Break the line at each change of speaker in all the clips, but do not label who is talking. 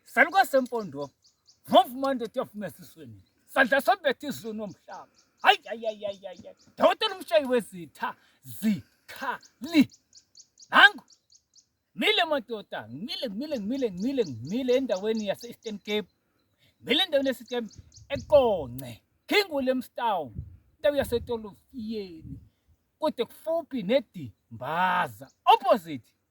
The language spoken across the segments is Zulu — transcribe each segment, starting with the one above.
Saluka sempondo. Move manje tiyafuna esisweni. Sadla sobethe izulu nomhlaba. Hayi hayi hayi hayi. Dawutela umshayi wezitha zikhali. Nangu Mile madoda, ngimile ngimile ngimile ngimile ngimile endaweni yase Eastern Cape. Ngimile endaweni yase Eastern Cape eQonce, King Williamstown, indawo yase Tolofiyeni. Kude kufuphi neDimbaza, opposite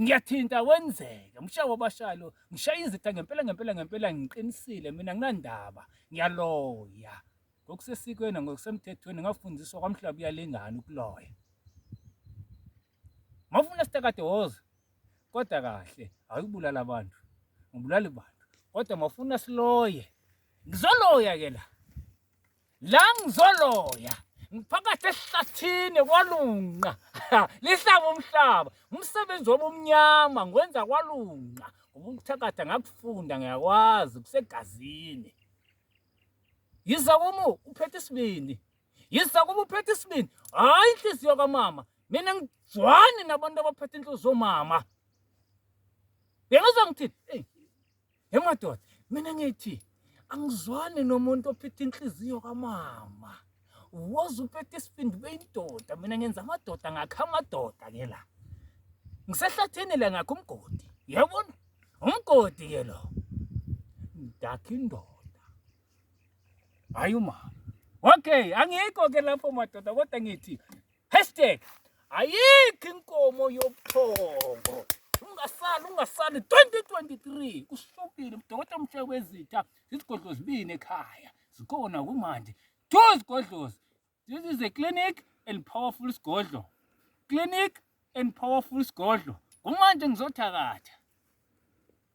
Ngiyathinta wenzeke mshaye wabashaya lo ngishaya izitha ngempela ngempela ngempela ngiqinisile mina nginandaba ngiyaloya ngokusesikweni ngokusemthethweni ngafundiswa kwamhlaba uyalingana ukuloya mawufuna sitakade woza kodwa kahle awuyibulala abantu ngibulala abantu kodwa mawufuna siloye ngizoloya ke la la ngizoloya ngiphakathi esihlathini kwalunqa lihlaba umhlaba umsebenzi wobumnyama ngwenza kwalunqa ngoba ukuthakatha ngakufunda ngiyakwazi kusegazini yiza kumu uphethe isibindi yiza kumu uphethe isibindi hhayi inhliziyo kamama mina ngizwani nabantu abaphethe inhliziyo mama bengizwa ngithini eyi He madoda, mina ngithi angizwani nomuntu ophethe inhliziyo kamama. Woza uphethe isibindi beyindoda, mina ngenza amadoda ngakha amadoda ke la. Ngisehlathini la ngakho umgodi. Yabona? Umgodi ke lo. Ngakha indoda. Hayi umama. Okay, angikho ke lapho madoda kodwa ngithi Hashtag ayikho inkomo yobuthongo ungasali ungasali 2023 kusukile udokotela umsheke wezitha izigodlo zibini ekhaya zikhona kumanje two zigodlozi this is a clinic and powerful sigodlo clinic and powerful sigodlo kumanje ngizothakatha